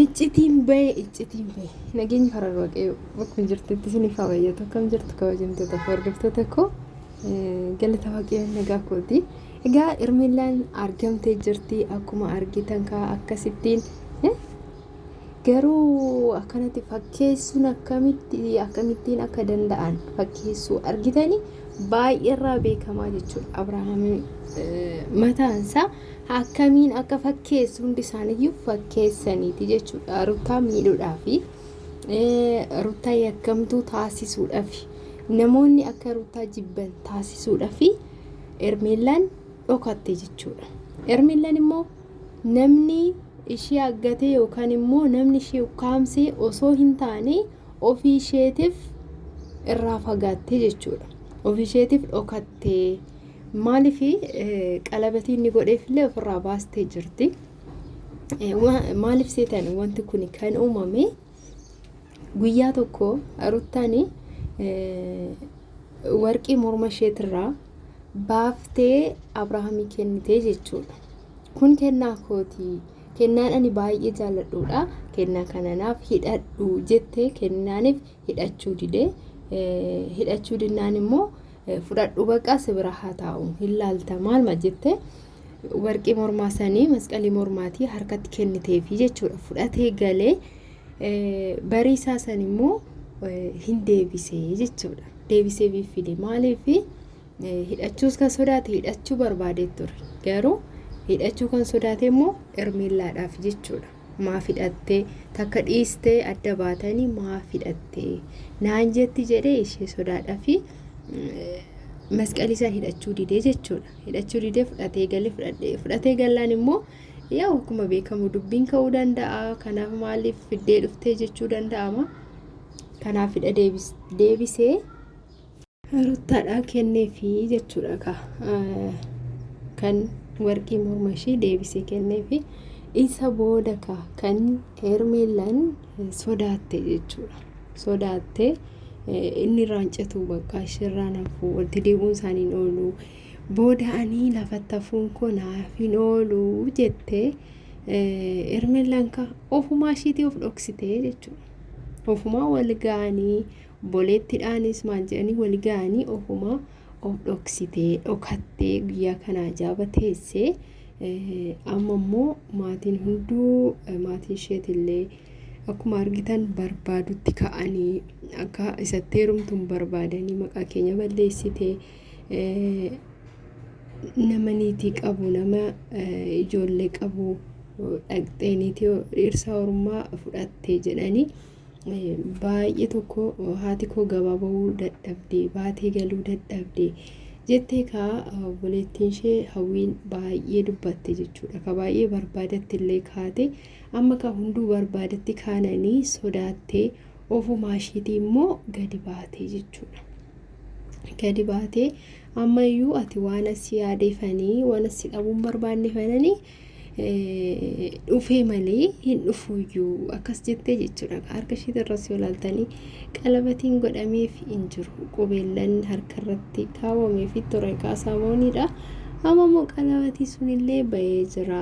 Iccitiin bahe iccitiin bahe nageenyi karaa waaqayyoo bakkuma jirtutti isiniif haa bayyatu akkam jirtu kabajamtoota fi hordoftoota koo galata waaqayyoon nagaa kooti egaa Hermeellaan argamtee jirti akkuma argitan kaa akkasittiin garuu akkanatti fakkeessuun akkamitti akkamittiin akka danda'an fakkeessuu argitanii baay'eerraa beekamaa jechuudha Abrahaamiin mataansaa akkamiin akka fakkeessu hundi isaaniiyyuu fakkeessaniiti jechuudha ruttaa miidhuudhaafi ruttaa yakkamtuu taasisuudhaafi namoonni akka ruttaa jibban taasisuudhaafi ermeellaan dhokatte jechuudha ermeellaan immoo namni ishee aggatee yookaan immoo namni ishee ukkaamsee osoo hin taane ofii isheetiif irraa fagaattee jechuudha ofii isheetiif dhokattee Maaliif qalabatii inni godheef illee ofirraa baastee jirti. Maaliif seetan wanti kun kan uumame guyyaa tokko ruttaan warqii morma isheetirraa baaftee Abrahaamii kennitee jechuudha. Kun kennaa kooti. Kennaan ani baay'ee jaalladhuudha. Kennaa kananaaf hidhadhu jettee kennaaniif hidhachuu didee hidhachuu dinnaan immoo fudhadhu baqa si bira haa taa'u hin laalta maalma jette warqii mormaa sanii masqalii mormaatii harkatti kenniteefi jechuudha fudhatee galee barii isaa san immoo hin deebisee jechuudha deebisee biiffide maaliif hidhachuus kan sodaate hidhachuu barbaadee ture garuu hidhachuu kan sodaate immoo ermeellaadhaaf jechuudha. maaf hidhattee takka dhiistee adda baatanii maaf hidhattee naan jetti jedhee ishee sodaadha fi masqalii san hidhachuu didee jechuudha hidhachuu didee fudhatee galee fudhadhee fudhatee gallaan immoo yaa akkuma beekamu dubbiin ka'uu danda'a kanaaf maaliif fiddee dhuftee jechuu danda'ama kanaaf hidha deebisee Ruttaadhaa kenneefi jechuudha ka kan warqii morma ishii deebisee kenneefi isa booda ka kan Hermeellaan sodaatte jechuudha. Sodaatte inni irraan citu bakka ishirraan hafu walitti deebi'uun isaanii hin oolu. Booda ani lafatti hafuun koo naaf hin oolu jettee Hermeellaan ka ofumaa ishiitii of dhoksitee jechuudha. Ofumaa wal ga'anii Obboleettidhaanis maal jedhanii wal ga'anii ofuma of dhoksitee dhokattee guyyaa kana ajaaba teessee eh, amma immoo maatiin hunduu eh, maatiin isheetillee akkuma argitan barbaadutti ka'anii akka isatti heerumtuun barbaadanii maqaa keenya balleessitee eh, nama niitii qabu nama eh, ijoollee qabu eh, dhaqxee niitii dhirsaa ormaa fudhattee jedhanii Baay'ee tokko haati koo gabaa ba'uu dadhabde baatee galuu dadhabde jettee kaa obboleettiin ishee hawwiin baay'ee dubbatte jechuudha. Ka baay'ee barbaadatti illee kaate amma ka hunduu barbaadatti kaananii sodaattee ofumaa ishiitii immoo gadi baatee jechuudha. Gadi baatee ammayyuu ati waan asii yaadeefanii waan asii dhabuun barbaanneefanii dhufee malee hin dhufuuyyuu akkas jettee jechuudha harka ishiit irras yoo laaltanii qalabatiin godhameef hin jiru qubeellan harka irratti kaawwamee fi ture kaasamooniidha amma immoo qalabatii sunillee ba'ee jira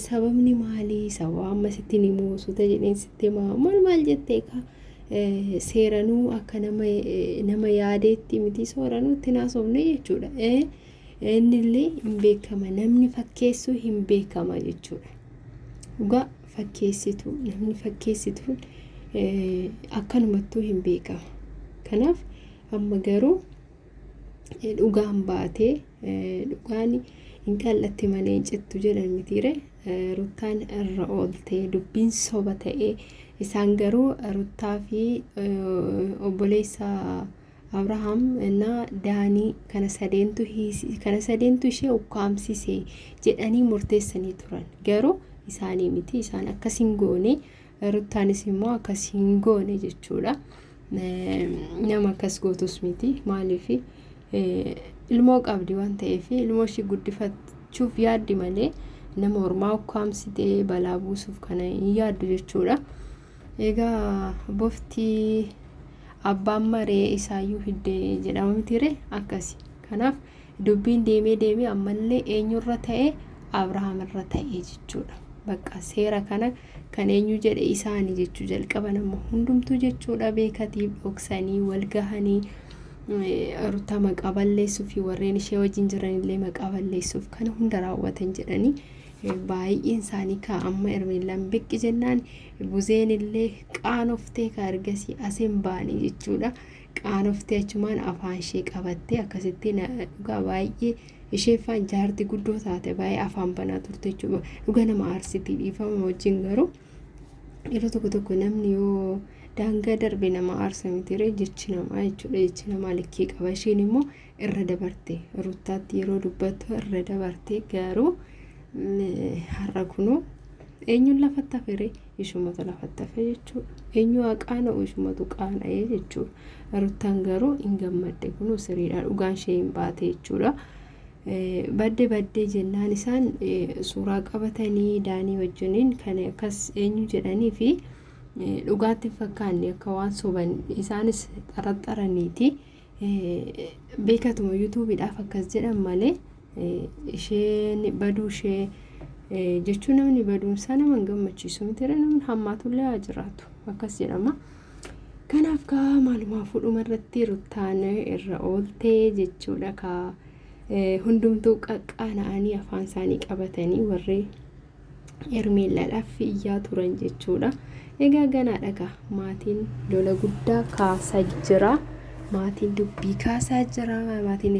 sababni maalii sababa amma sitti ni muusuta jedheen sitti maa maal maal jettee ka seeranuu akka nama nama yaadeetti miti sooranuu itti naasofne jechuudha. Innillee hin beekama namni fakkeessu hin beekama jechuudha. Dhugaa fakkeessitu namni fakkeessituun akkanumattuu hin beekama. Kanaaf amma garuu dhugaan baatee dhugaan hin qal'atti malee hin cittu jedhan mitiire ruttaan irra ooltee dubbiin soba ta'ee isaan garuu ruttaa fi obboleessa Abrahaam na Daanii kana sadeentu hiisi- kana sadeentu ishee ukkaamsise jedhanii murteessanii turan. Garuu isaanii miti isaan akkas hin goone ruttaanis immoo akkas hin goone jechuudha. Eh, Nama akkas gootus miti maaliif ilmoo qabdi waan ta'eef ilmoo ishii guddifachuuf yaaddi malee nama ormaa ukkaamsitee balaa buusuuf kana hin yaaddu jechuudha. Egaa bofti abbaan maree isaayyuu fidde jedhama mitiire akkasi. Kanaaf dubbiin deemee deemee ammallee eenyurra ta'e Abrahaam irra ta'e jechuudha. Bakka seera kana kan eenyu jedhe isaani jechuu jalqaban amma hundumtuu jechuudha beekatiif dhoksanii wal gahanii ruta maqaa balleessuu fi warreen ishee wajjin jiranillee maqaa balleessuuf kana hunda raawwatan jedhanii Baay'een isaanii kaa amma Hermeellaan biqqi jennaan Buzeen illee qaanoftee kaa ergasii as hin baane jechuudha. Qaanoftee achumaan afaan ishee qabattee akkasitti na- dhugaa baay'ee ishee faan jaarti guddoo taate baay'ee afaan banaa turte jechuudha. Dhugaa nama aarsitii dhiifama wajjin garuu yeroo tokko tokko namni yoo daangaa darbe nama aarsa mitiiree jechi namaa jechuudha jechi namaa likkii qaba isheen immoo irra dabarte ruttaatti yeroo dubbattu irra dabarte garuu har'a kunuu eenyuun lafatti hafere ishumatu lafatti hafe jechuudha eenyu haqaana ishumatu qaana'ee jechuudha ruttaan garuu hin gammadde kunuu siriidha dhugaan ishee hin baate jechuudha. badde baddee jennaan isaan suuraa qabatanii daanii wajjiniin kan akkas eenyu jedhanii fi dhugaatti fakkaanne akka waan soban isaanis xaraxaraniiti Beekatuma yuutuubiidhaaf akkas jedhan malee isheen baduu ishee jechuun namni baduunsaa nama hin gammachiisu miti namni hammaatullee haa jiraatu akkas jedhama. Kanaaf kaa maalumaa fuudhuma irratti ruttaan irra ooltee jechuudha kaa hundumtuu qaqqaana'anii afaan isaanii qabatanii warri Hermeellaadhaaf iyyaa turan jechuudha. Egaa ganaadha kaa maatiin lola guddaa kaasaa jira. Maatiin dubbii kaasaa jira. Maatiin